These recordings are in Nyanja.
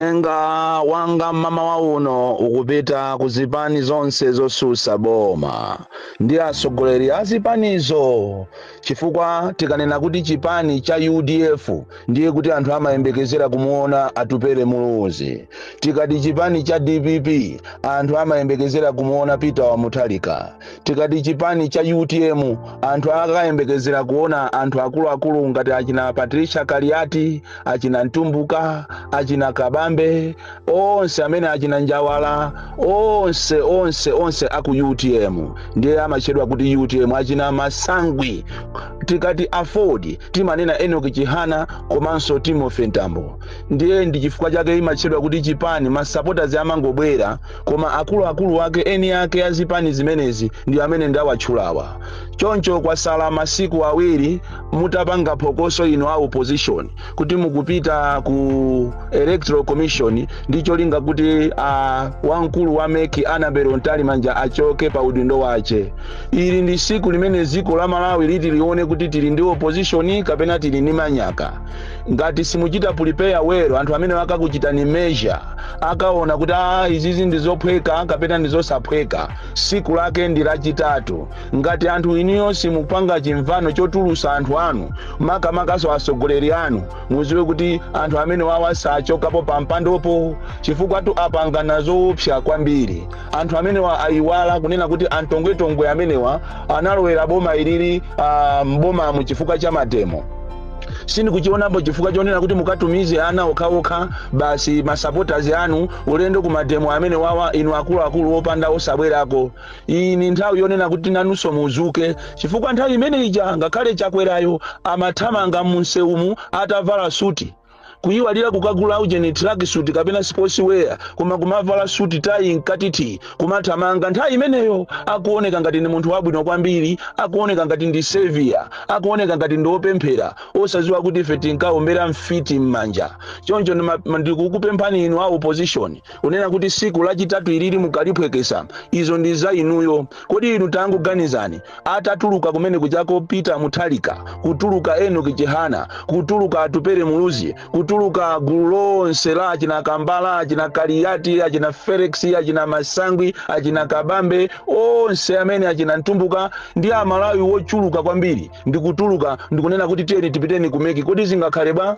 Uthenga wanga mmamawa uno ukupita ku zipani zonse zotsutsa boma ndi atsogoleri a zipanizo chifukwa tikanena kuti chipani cha udf ndiye kuti anthu amayembekezera kumuona Atupele Muluzi, tikati chipani cha dpp anthu amayembekezera kumuona Peter wa Mutharika. tikati chipani cha utm anthu akayembekezera kuona anthu akuluakulu ngati achina patricia kaliati achina mtumbuka achina kabambe onse amene achina njawala onse onse onse aku utm ndiye amatchedwa kuti utm achina Masangwi tikati aford timanena Enoch Chihana komanso timothy mtambo ndiye ndi chifukwa chake imatchedwa kuti chipani masapoters amangobwera koma akuluakulu wake eni ake a zipani zimenezi ndi amene ndawatchulawa choncho kwasala masiku awiri mutapanga phokoso inu a opposition kuti mukupita ku electoral commission ndi cholinga kuti wamkulu wa MEC Annabel Mtalimanja achoke pa udindo wache ili ndi siku limene dziko la malawi liti lione kuti tili ndi opposition kapena tili ndi manyaka ngati simuchita prepare well anthu amenewa akakuchitani measure akaona kuti a izizi ndi zophweka kapena ndi zosaphweka siku lake ndi lachitatu ngati anthu inuyo simupanga chimvano chotulutsa anthu anu makamakaso atsogoleri anu mudziwe kuti anthu amenewawa sachokapo pa mpandopo chifukwatu apangana zoopsa kwambiri anthu amenewa ayiwala kunena kuti a Tongwetongwe amenewa analowera boma ilili m'bomamu chifukwa cha mademo sindikuchionapo chifukwa chonena kuti mukatumize ana okhaokha basi masupporters anu ulendo ku mademo amenewawa inu akuluakulu opanda osabwerako iyi ndi nthawi yonena kuti nanunso muzuke chifukwa nthawi imene ija ngakhale chakwerayo amathamanga mumsewumu atavala suti kuyiwalira kukagula ujeni tracksuit kapena sports wear koma kumavala suit tayi m'kati thi kumathamanga nthawi imeneyo akuoneka ngati ndi munthu wabwino kwambiri akuoneka ngati ndi savior akuoneka ngati ndi opemphera osadziwa kuti ife tinkaombera mfiti m'manja choncho ndikukupemphani inu a opposition kunena kuti siku lachitatu ilili mukaliphweketsa izo ndi za inuyo kodi inu tangoganizani atatuluka kumene kuchaku peter Mutharika kutuluka Enoch Chihana kutuluka atupere muluzi kutuluka gulu lonse la achina kambala achina Kaliati achina felix achina masangwi achina kabambe onse amene achina Mtumbuka ndi amalawi wochuluka kwambiri ndikutuluka ndikunena kuti tiyeni tipiteni ku MEC kodi zingakhale bwa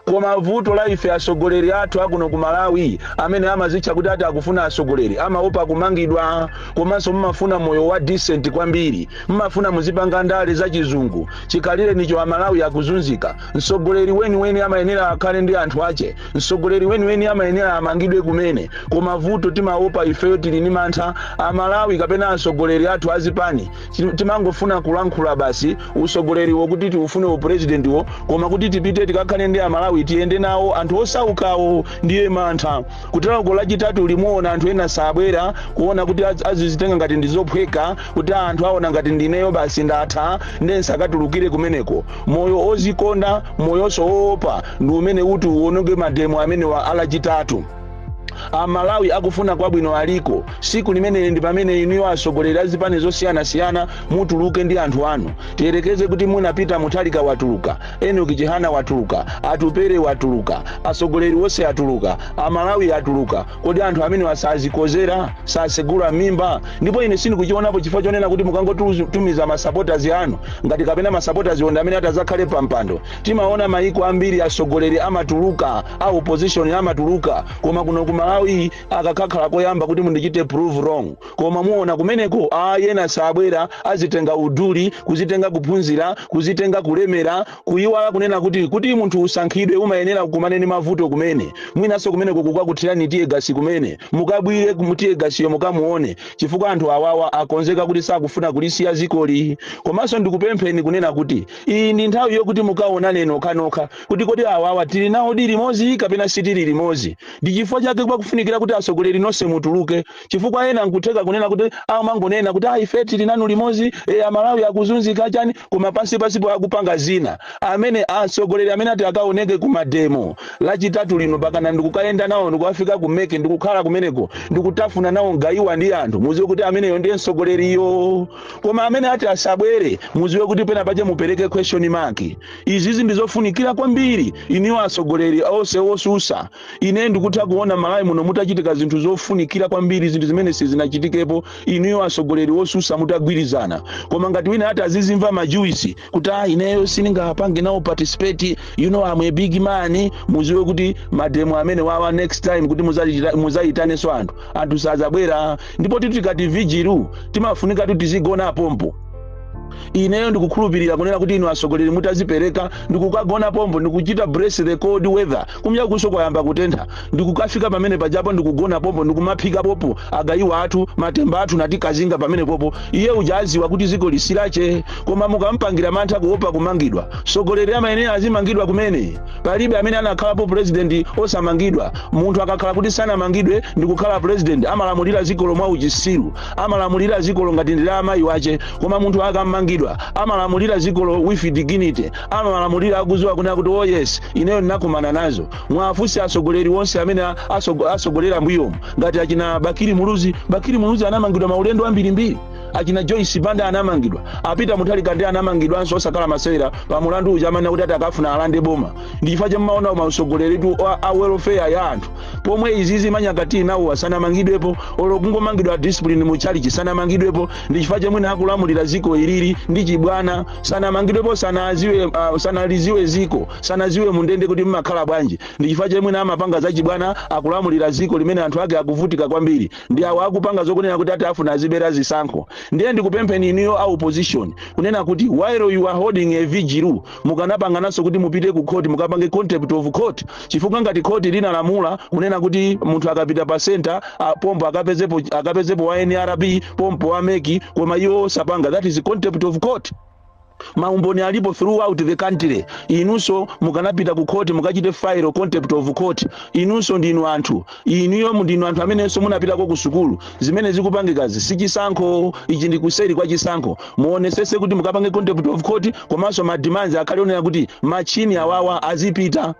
Koma vuto la ife atsogoleri athu akuno ku Malawi amene amazitcha kuti ati akufuna utsogoleri amaopa kumangidwa komanso mumafuna moyo wa decent kwambiri. Mumafuna muzipanga ndale za chizungu. Chikhalirenicho Amalawi akuzunzika. Mtsogoleri weniweni amayenera akhale ndi anthu ache. Mtsogoleri weniweni amayenera amangidwe kumene. Koma vuto timaopa ifeyo tili ni mantha Amalawi kapena atsogoleri athu azipani Ti- timangofuna kulankhula basi usogoleriwo kuti tiufune upresidentiwo koma kuti tipite tikakhale ndi amalawi tiyende nawo anthu osaukawo ndiye mantha kuteroko lachitatu limuona anthu ena sabwera kuona kuti az- azizitenga ngati ndizophweka kuti anthu aona ngati ndineyo basi ndatha nde nsakatulukire kumeneko moyo ozikonda moyonso woopa ndi umene uti uononge mademo amenewa a lachitatu amalawi akufuna kwabwino aliko siku limeneli ndi pamene inuyo atsogoleri a zipani zosiyanasiyana mutuluke ndi anthu anu tiyerekeze kuti mwina peter mutharika watuluka enoch chihana watuluka atupere watuluka atsogoleri onse atuluka amalawi atuluka kodi anthu amenewa sazikozera sasegula mimba ndipo ine sindikuchionapo chifukwa chonena kuti mukangotumiza masapotazi anu nga kapena masapotazi ndi amene atazakhale pampando timaona maiko ambiri atsogoleri amatuluka a opposition amatuluka koma kuno ku malawi akakhala koyamba kuti mundichite prove wrong koma muona kumeneko ena sabwera azitenga uduli kuzitenga kuphunzira kuzitenga kulemera kuyiwala kunena kuti kuti munthu usankhidwe umayenera ukumane ni mavuto kumene mwinanso kumeneko akakuthirani tear gas kumene mukabwire tear gas yo mukamuone chifukwa anthu awawa akonzeka kuti sakufuna kulisiya dzikoli komanso ndikupempheni kunena kuti Iyi ndi nthawi yokuti mukaonane nokhanokha kuti kodi awawa tili nawodi limodzi kapena sitili limodzi. Ndi chifukwa chake pakufunikira kuti atsogoleri nonse mutuluke chifukwa ena nkutheka kunena kuti amangonena kuti ah ife tili nanu limodzi eh amalawi akuzunzika chani koma pansi pansipo akupanga zina. Amene atsogoleri amene ati akaoneke ku mademo lachitatu lino pakana ndikukayenda nawo ndikukafika ku mec ndikukhala kumeneko ndikutafuna nawo mgaiwa ndi anthu mudziwe kuti ameneyo ndiye mtsogoleriyo. Koma amene ati asabwere, muziwe kuti pena pache mupereke question mark. Izizi ndizofunikira kwambiri inuyo atsogoleri onse osusa. Ine ndikutha kuona Malawi muno mutachitika zinthu zofunikira kwambiri zinthu zimene sizinachitikepo inuyo atsogoleri osusa mutagwirizana. Koma ngati wina ati azizimva majuwisi kuti ah ineyo sindingapange nawo participate you know I'm a big man muziwe kuti mademo amenewawa next time kuti muzachita- muzayitanenso anthu anthu sazabwera ndipo tu tikati vigil timafunika tu tizigona pompo ineyo ndikukhulupirira kunena kuti inu atsogoleri mutazipereka ndikukagona pompo ndikuchita brace the cold weather Kumyakunso kwayamba kutentha ndikukafika pamene pajapo ndikugona popo ndikumaphika popo agayiwa athu matemba athu ndikazinga pamene popo iye uja aziwe kuti zikoli si lache koma mukampangira mantha kuopa kumangidwa sogoleri amayenera azimangidwa kumene palibe amene anakhalapo president osamangidwa munthu akakhala kuti sanamangidwe ndikukhala president amalamulira zikolo mwa uchisiru amalamulira zikolo ngati ndi la amayi wache koma munthu akamangidwa amalamulira zikolo with dignity amawalamulira akuziwa kunena kuti oh yes ineyo ndinakumana nazo mwafunse atsogoleri onse amene a- atsogo- atsogolera mbuyomu ngati achina bakiri muluzi bakiri muluzi anamangidwa maulendo ambirimbiri achina joyce banda anamangidwa a peter mutharika nde anamangidwanso osakhala masewera pa mulandu uja amene kuti ati akafuna alande boma ndi chifukwa chake amaona mautsogoleritu a- a welfare ya anthu pomwe izizi manyaka tinawo sanamangidwepo olo kungomangidwa discipline mu chalichi sanamangidwepo ndi chifukwa chomwe akulamulira ziko ilili ndi chibwana sanamangidwepo sanaliziwe ziko sanaziwe mundende kuti mmakhala bwanji ndi chifukwa chomwe mwina amapanga zachibwana akulamulira ziko limene anthu ake akuvutika kwambiri ndi awo akupanga zokunena kuti ati afuna azabere zisankho ndiye ndikupempheni inuyo a opposition kunena kuti while you are holding a vigil mukanapangananso kuti mupite ku court mukapange contempt of court chifukwa ngati khoti linalamula kunena kuti munthu akapita pa center pompo akapezepo wa nrb pompo wa mec koma iwo sapanga that is contempt of court maumboni alipo throughout the country inunso mukanapita ku court mukachite file contempt of court inunso ndinu anthu Inuyo ndinu anthu amenenso munapitako ku sukulu. Zimene zikupangikazi si chisankho, ichi ndi kuseri kwa chisankho. Muonesese kuti mukapange contempt of court komanso ma demands akhale onena kuti machini awawa azipita.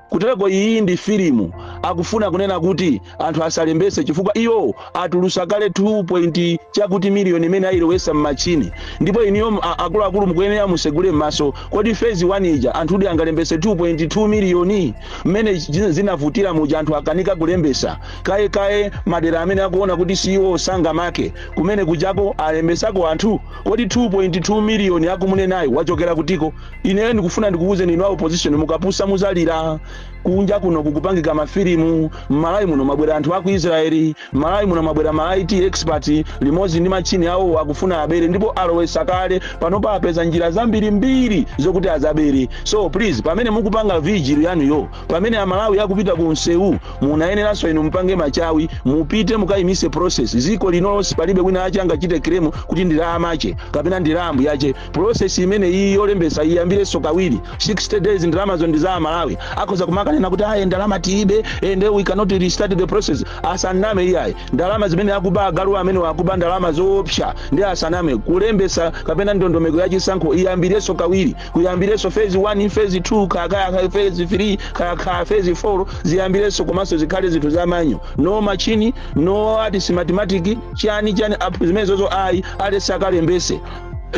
Kutereko iyi ndi filimu, akufuna kunena kuti anthu asalembetse chifukwa iwo atulusa kale 2 point chakuti miliyoni imene ayilowesa m'machini ndipo iniyo m- a- akuluakulu mukuyenera musegule m'maso kodi phase 1 ija anthu kuti angalembese 2.2 miliyoni mmene zi- zinavutira muja anthu akanika kulembesa kaye kaye madera amene akuona kuti iwo sangamake kumene kujako alembesako anthu kodi 2.2 miliyoni akumunenayi yachokera kutiko ineyo ndikufuna ndikuwuzeni inu a opposition mukapusa muzalira kunja kuno kukupangika mafilimu mmalawi muno mwabwera anthu aku israeli mmalawi muno mwabwera ma it expert limodzi ndi matchini awo akufuna abere ndipo alowesa kale panopa apeza njira zambirimbiri zokuti azabere so please pamene mukupanga vigil yanuyo pamene amalawi akupita ku msewu munayeneranso inu mupange machawi mupite mukayimise process ziko lino lonse palibe wina ache angachite claim kuti ndilamache kapena ndi la mbuyache Process imeneyiyi yolembetsa iyambirenso kawiri, 60 days ndalamazo ndi za a Malawi. Akhoza kumakanena kuti ayi ndalama tilibe and we cannot restart the process. Asaname iyayi. Ndalama zimene akuba agalu amenewa akuba ndalama zoopsa ndiye asaname. Kulembetsa kapena ndondomeko ya chisankho iyambirenso kawiri. Kuyambirenso phase 1, phase 2, kaya kaya kaya phase 3, kaya kaya phase 4 ziyambirenso komanso zikhale zinthu za manual. No machine, no ati smartmatic, chani chani app zimenezozo ayi aliyense akalembese.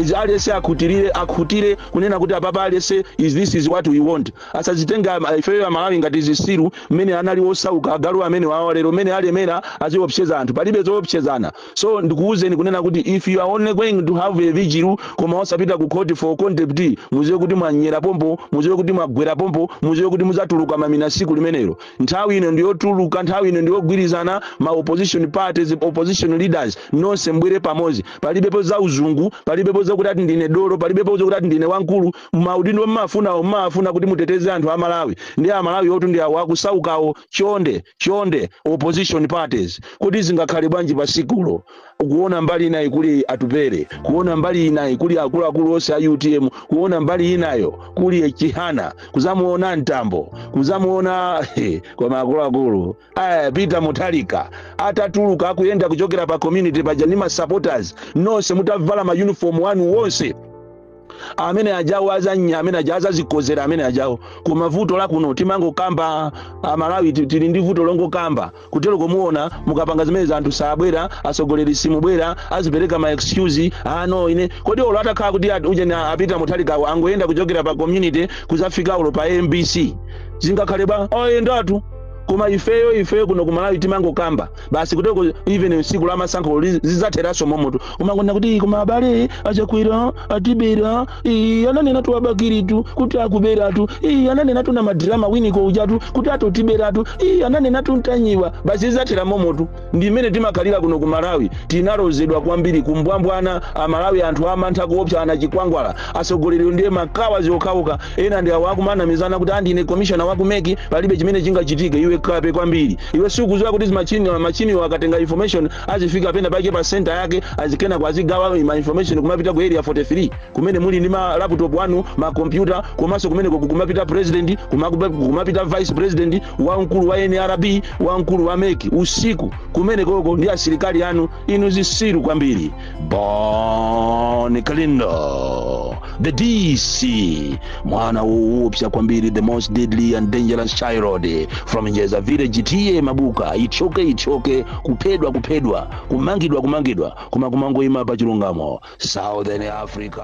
izi aliyense akhutirire akhutire kunena kuti apapa aliyense is this is what we want asazitenge ama- ifeyo amalawi ngati zisiru mmene analili osauka agalu amene wawa lero mmene alemera aziopseza anthu palibe zoopsezana so ndikuwuzeni kunena kuti if you are only going to have a vigil koma osapita ku court for contempt muziwe kuti mwanyera pompo muziwe kuti mwagwera pompo muziwe kuti muzatuluka mamina siku limenelo nthawi ino ndiyotuluka nthawi ino ndiyogwirizana ma opposition parties opposition leaders nonse mbwere pamodzi palibepo za uzungu palibepo zakuti ati ndine dolo palibepo zakuti ati ndine wamkulu maudindo mmafunawo mmawafuna kuti muteteze anthu a malawi ndi a malawi otu ndi awo akusaukawo chonde chonde opposition parties kuti zingakhale bwanji pa tsikulo kuona mbali inayi kuli Atupele kuona mbali inayi kuli akuluakulu onse a utm kuona mbali inayo kuli chihana kuzamuona mtambo kuzamuona koma akuluakulu Eh, Peter Mutharika atatuluka akuyenda kuchokera pa community paja ndi ma supporters nonse mutavala ma uniform wanu wonse amene ajawo azanya amene aja azazikodzera amene ajawo koma vuto la kuno timangokamba amalawi ti- tili ndi vuto longokamba kutero kumaona mukapanga zimene anthu sabwera asogoleri simubwera azipereka ma excuse anu ine kodi olo atakhala kuti at- uje na a Peter Mutharikawo angoyenda kuchokera pa community kuzafika olo pa mbc zingakhale ba oyendatu koma ifeyo ifeyo kuno kumalawi timangokamba basi kuteko even tsiku la masankho li- zidzatheranso momotu kumangonena kuti koma abale achakwera atibera ii, ananenatu a Bakilitu kuti akuberatu ii, ananenatu na madrama winiko ujatu kuti atotiberatu ii, ananenatu Ntanyiwa basi zidzathera momotu ndi mmene timakhalira kuno ku malawi tinalozedwa kwambiri kumbwambwana amalawi anthu amantha kuopsa anachikwangwala atsogoleri ndiye makawa ziokhaoka ena ndi awo akumanamizana kuti ndine komishona wa kumeki palibe chimene chingachitike iwe kape kwambiri iwe sikuziwa kuti zimachini zimachinizo akatenga information azifika pena pake pa senta yake azikayamba kwazigawa ma information kumapita ku area 43 kumene muli ndi ma laptop anu ma computer komanso kumene kuku- kumapita president kumakupa- kumapita vice president wa mkulu wa nrb wamkulu wa mec usiku kumenekoko ndi asilikali anu inu zisiru kwambiri bon kalindo the dc mwana woopsa kwambiri the most deadly and dangerous child from njeza village ta mabuka ichoke ichoke kuphedwa kuphedwa kumangidwa kumangidwa koma kumangoima pa chilungamo southern africa